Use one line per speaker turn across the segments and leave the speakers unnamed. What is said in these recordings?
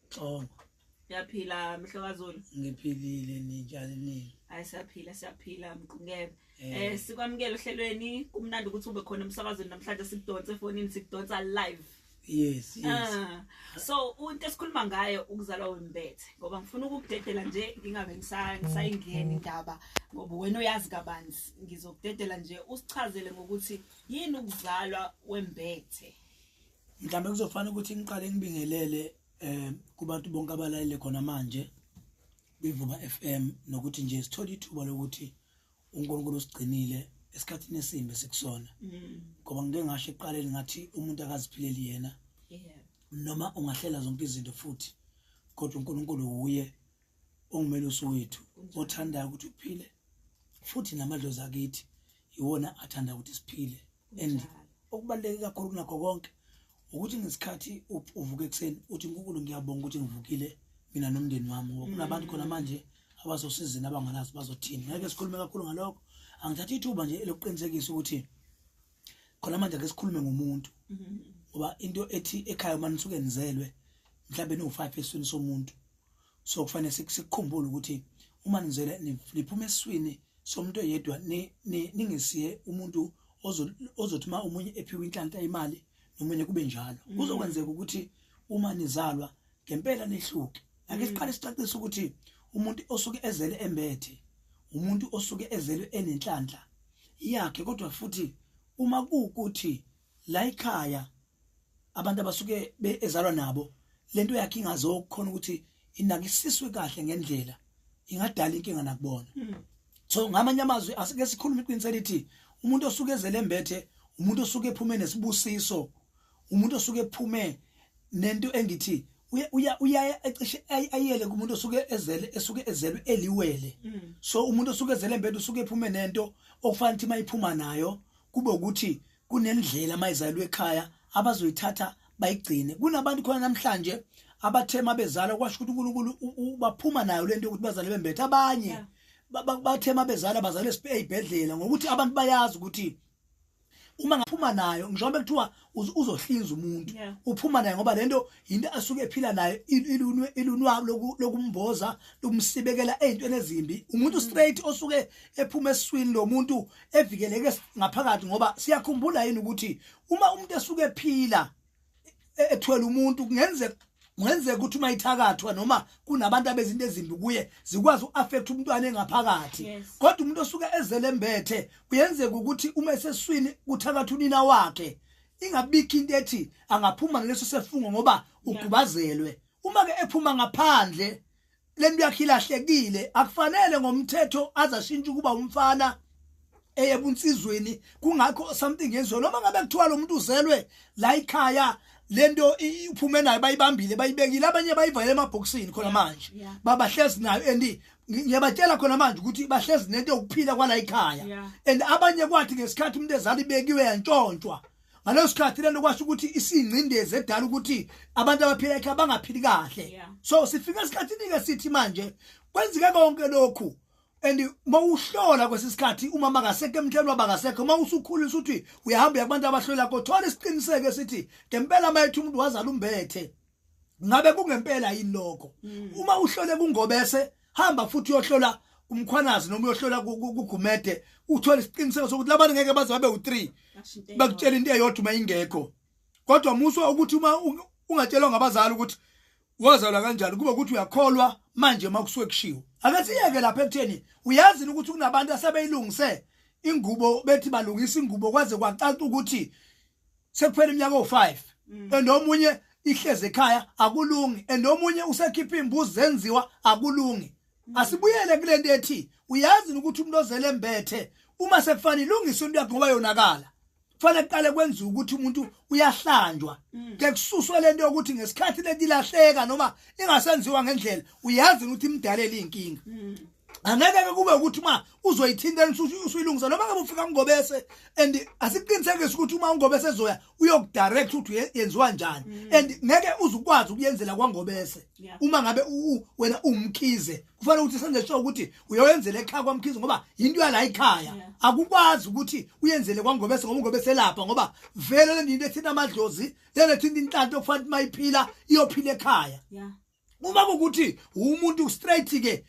Xongo. Ngiyaphila
mhlokazulu. Ngiphilile
ninjani nini? Hayi siyaphila siyaphila
mqungebe. Eh, eh sikwamukela ohlelweni kumnandi ukuthi ube khona emsakazweni namhlanje sikudonse efonini sikudonsa live. Yes, yes. Uh,
so
into esikhuluma ngayo ukuzalwa wembethe ngoba ngifuna ukukudedela nje ngingabe ngisayingeni indaba ngoba wena uyazi kabanzi ngizokudedela nje usichazele ngokuthi yini ukuzalwa wembethe. mhlawumbe
kuzofanele ukuthi ngiqale ngibingelele eh kubantu bonke abalalele khona manje kwivuba FM nokuthi nje sithola ithuba lokuthi uNkulunkulu usigcinile esikhathini esimbe sikusona mm. ngoba ngike ngasho eqaleni ngathi umuntu akaziphileli yena noma ungahlela zonke izinto futhi kodwa uNkulunkulu uye ongumelusi wethu othandayo ukuthi uphile futhi namadlozi akithi iwona athanda ukuthi siphile and okubaluleke kakhulu kunakho konke ukuthi ngesikhathi uvuka ekuseni uthi nkukulu ngiyabonga ukuthi ngivukile mina nomndeni wami ngoba kunabantu khona manje abazosizini abangalazi bazothini ngeke sikhulume kakhulu ngalokho angithatha ithuba nje elokuqinisekisa ukuthi khona manje ake sikhulume ngomuntu ngoba into ethi ekhaya uma nisuke nizelwe mhlawumbe niwu-five esweni somuntu so kufanele sikukhumbule ukuthi uma nizele niphuma eswini somuntu oyedwa ningesiye umuntu ozothi uma omunye ephiwe inhlanhla imali nomunye kube njalo mm. kuzokwenzeka ukuthi uma nizalwa ngempela nehluke ake mm. siqale sicacise ukuthi umuntu osuke ezele embethe umuntu osuke ezele enenhlanhla yakhe kodwa futhi uma kuukuthi la ikhaya abantu abasuke ezalwa nabo lento yakhe ingazokhona ukuthi inakisiswe kahle ngendlela ingadala inkinga nakubona hmm. so ngamanye amazwi asike sikhulume iqiniso elithi umuntu osuke ezele mbethe umuntu osuke ephume nesibusiso umuntu osuke ephume nento engithi uya uya ecishe ayele kumuntu osuke ezele esuke ezelwe eliwele hmm. so umuntu osuke ezele mbethe usuke ephume nento okufanele ukuthi mayiphuma nayo kube ukuthi kunendlela uma izalwa ekhaya abazoyithatha bayigcine kunabantu khona namhlanje abathe uma bezala kwasho ukuthi unkulunkulu baphuma nayo le nto yokuthi bazale bembethe abanye yeah. bathe uma bezala bazale esibhedlela ngokuthi abantu bayazi ukuthi uma ngaphuma nayo ngisho uma kuthiwa uzohlinza umuntu uphuma naye ngoba lento into asuke ephila nayo ilunwe ilunwa lokumboza lokumsibekela ezintweni ezimbi umuntu mm. straight osuke ephuma eswini lomuntu evikeleke ngaphakathi ngoba siyakhumbula yini ukuthi uma umuntu esuke ephila e, ethwele umuntu kungenzeka ngenzeka ukuthi uma ithakathwa noma kunabantu abezinto ezimbi kuye zikwazi uaffect umntwana engaphakathi kodwa umuntu osuke ezele mbethe uyenzeka ukuthi uma eseswini kuthakatha unina wakhe ingabikho into ethi angaphuma ngaleso sefungo ngoba ugubazelwe uma ke ephuma ngaphandle lento yakhe ilahlekile akufanele ngomthetho azashintsha ukuba umfana eye bunsizweni kungakho something yenziwe noma ngabe kuthiwa lo muntu uzelwe la ikhaya lento iphume nayo bayibambile bayibekile abanye bayivale emabhokisini khona manje babahlezi nayo and ngiyabatshela khona manje ukuthi bahlezi nento yokuphila kwala ikhaya and abanye kwathi ngesikhathi umuntu ezali bekiwe yantshontshwa ngaleso sikhathi lento kwasho ukuthi isingcindezi edala ukuthi abantu abaphila ekhaya bangaphili kahle so sifika esikhathini-ke sithi manje kwenzeke konke lokhu and mawuhlola kwesisikhathi uma makasekho emhlabeni wabakasekho uma usukhulile ukuthi uyahamba yabantu abahlola kothola isiqiniseko esithi ngempela mayethu umuntu wazala umbethe ngabe kungempela yini lokho mm. uma uhlole kungobese hamba futhi uyohlola umkhwanazi noma uyohlola kugumede uthole isiqiniseko sokuthi labantu ngeke baze babe u-3 bakutshela into eyodwa uma ingekho kodwa muswa ukuthi uma ungatshelwa ngabazali ukuthi wazalwa kanjani kube ukuthi uyakholwa manje uma kusuke kushiwo ake siyeke lapha ekutheni uyazini ukuthi kunabantu asebeyilungise ingubo bethi balungisa ingubo kwaze kwacaca ukuthi sekuphela iminyaka o5 mm. and omunye ihleze ekhaya akulungi and omunye usekhipha imbuzi zenziwa akulungi mm. asibuyele kulento ethi uyazi ukuthi umuntu ozele embethe uma sekufanele ilungise into yakhe ngoba yonakala kufanele kuqale kwenziwe ukuthi umuntu uyahlanjwa mm. ke kususwe lento yokuthi ngesikhathi letilahleka noma ingasenziwa ngendlela uyazi ukuthi imdalela inkinga angeke ke kube ukuthi uma uzoyithinta usuyilungisa noma ngabe ufika ngobese and asikuqinisekise ukuthi uma ungobese ezoya uyokudirect ukuthi yenziwa njani mm. and ngeke uzukwazi ukuyenzela kwangobese uma ngabe wena umkhize kufanele ukuthi senze sure ukuthi uyoyenzela ekhaya kwamkhize ngoba yinto yala ikhaya akukwazi ukuthi uyenzele kwangobese ngoba ungobese lapha ngoba vele le nto ethinta amadlozi lena ethinta inhlanto okufanele uma iphila iyophila ekhaya uma ukuthi umuntu straight ke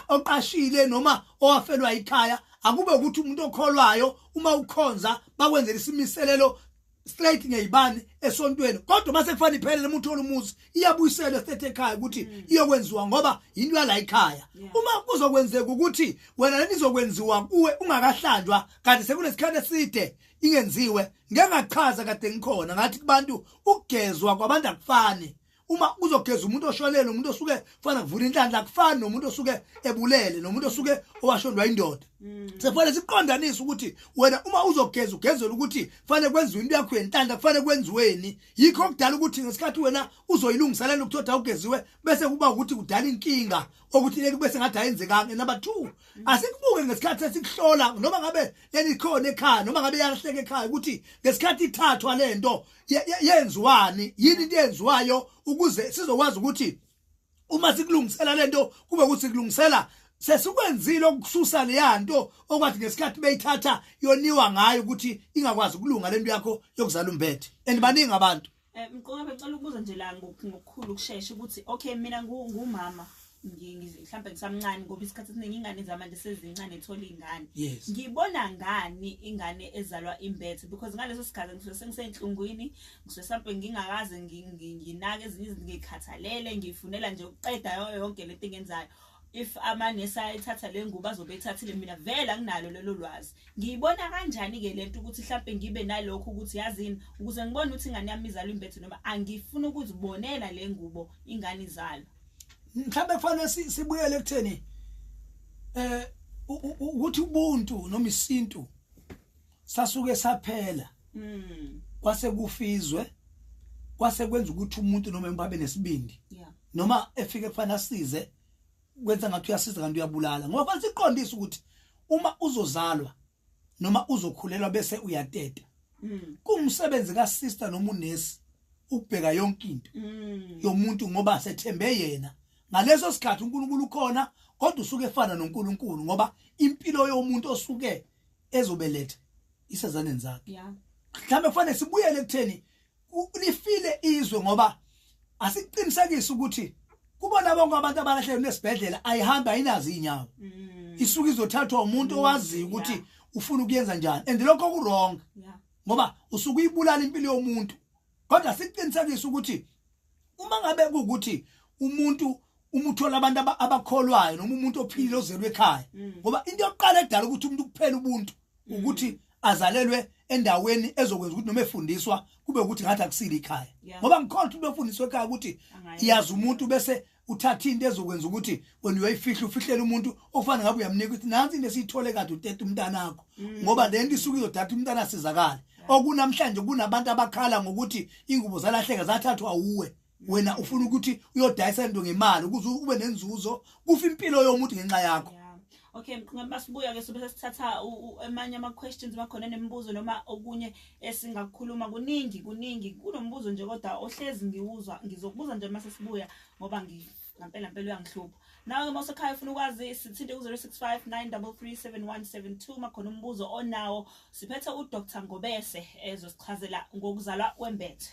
oqashile noma owafelwa ikhaya akube ukuthi umuntu okholwayo uma ukhonza bakwenzela isimiselelo straight ngeyibani esontweni kodwa mase kufana iphelele umuntu olumuzi iyabuyiselwa state ekhaya ukuthi mm. iyokwenziwa ngoba into yala ikhaya uma kuzokwenzeka ukuthi wena lenizokwenziwa kuwe ungakahlanjwa kanti sekunesikhathi eside ingenziwe ngengachaza kade ngikhona ngathi kubantu ukugezwa kwabantu akufani uma kuzogeza umuntu oshonele umuntu osuke kufanele kuvula inhlanhla akufani nomuntu osuke ebulele nomuntu osuke owashondwa indoda mm. sekufanele siqondanise ukuthi wena uma uzogeza ugezela ukuthi kufanele kwenziwe into yakho yenhlanhla kufanele kwenziweni yikho okudala ukuthi ngesikhathi wena uzoyilungiselela ukuthoda ugeziwe bese kuba ukuthi kudala inkinga okuthi leli bese ngathi ayenzekanga number 2 mm. asikubuke ngesikhathi esikuhlola noma ngabe leli khona ekhaya noma ngabe yalahleka ekhaya ukuthi ngesikhathi ithathwa lento yenziwani yini into yenziwayo ukuze sizokwazi ukuthi uma sikulungisela lento kube ukuthi kulungisela sesikwenzile ukususa leya nto okwathi ngesikhathi beyithatha yoniwa ngayo ukuthi ingakwazi ukulunga lento yakho yokuzala umbethe and baningi abantu eh, mqoka becela
ukubuza nje la ngokukhulu ukushesha ukuthi okay mina ngumama mhlawumbe ngisamncane ngoba isikhathi esiningi ingane zamanje sezincane thola ingane ngibona ngani ingane ezalwa imbethe because ngaleso sikhathi ngisuke sengisenhlungwini ngisuke mhlawumbe ngingakaze nginake ezinye izinto ngikhathalele ngifunela nje ukuqeda yonke le nto engenzayo if amanesi ayithatha le ngubo azobe ethathile mina vele anginalo lelo lwazi ngiyibona kanjani-ke le nto ukuthi mhlawumbe ngibe nalokho ukuthi yazini ukuze ngibone ukuthi ingane yami izalwa imbethe noma angifuni ukuzibonela le ngubo ingane izalwa mhlawumbe
kufanele sibuyele ekutheni eh ukuthi ubuntu noma isintu sasuke saphela mm. kwase kufizwe kwase kwenza ukuthi umuntu noma embabe nesibindi noma efike kufanele asize kwenza ngathi uyasiza kanti uyabulala ngoba fanele siqondise ukuthi uma uzozalwa noma uzokhulelwa bese uyateta mm. kumsebenzi ka sister noma unesi ukubheka yonke into mm. yomuntu ngoba sethembe yena ngaleso sikhathi uNkulunkulu ukhona kodwa usuke efana noNkulunkulu ngoba impilo yomuntu osuke ezobeletha isezaneni zakhe mhlawumbe kufanele sibuyele kutheni lifile izwe ngoba asiqinisekise ukuthi kubona bonke abantu abalahlelwe nesibhedlela ayihambi ayinazi inyawo mm. isuke izothathwa umuntu mm. owaziyo ukuthi yeah. ufuna ukuyenza njani and lokho kurong yeah. ngoba usuke uyibulala impilo yomuntu kodwa siqinisekise ukuthi uma ngabe ukuthi umuntu uma uthola abantu abakholwayo noma umuntu ophilile ozelwe ekhaya mm. ngoba into yokuqala edala ukuthi umuntu kuphela ubuntu mm. ukuthi azalelwe endaweni ezokwenza ukuthi noma efundiswa kube ukuthi ngathi akusile ikhaya ngoba ngikhona ukuthi befundiswe ekhaya ukuthi iyazi umuntu bese uthatha into ezokwenza ukuthi wena uyayifihla ufihlele umuntu ofana ngabe uyamnika ukuthi nansi into esiyithole kade utete umntanakho mm. ngoba le nto isuke izodatha umntana sizakale okunamhlanje kunabantu abakhala ngokuthi ingubo zalahleka zathathwa uwe wena ufuna ukuthi uyodayisa into ngemali ukuze ube nenzuzo kufa impilo yomuntu ngenxa yakho Okay mkhuluma
basibuya ke sobe sesithatha amanye ama questions bakhona nemibuzo noma okunye esingakukhuluma kuningi kuningi kunombuzo nje kodwa ohlezi ngiwuzwa ngizokubuza nje mase sibuya ngoba ngi ngampela mpela uyangihlupha nawe ke masekhaya ufuna ukwazi sithinte ku-065 9337172 uma khona umbuzo onawo siphethe udr ngobese ezosichazela ngokuzalwa kwembethe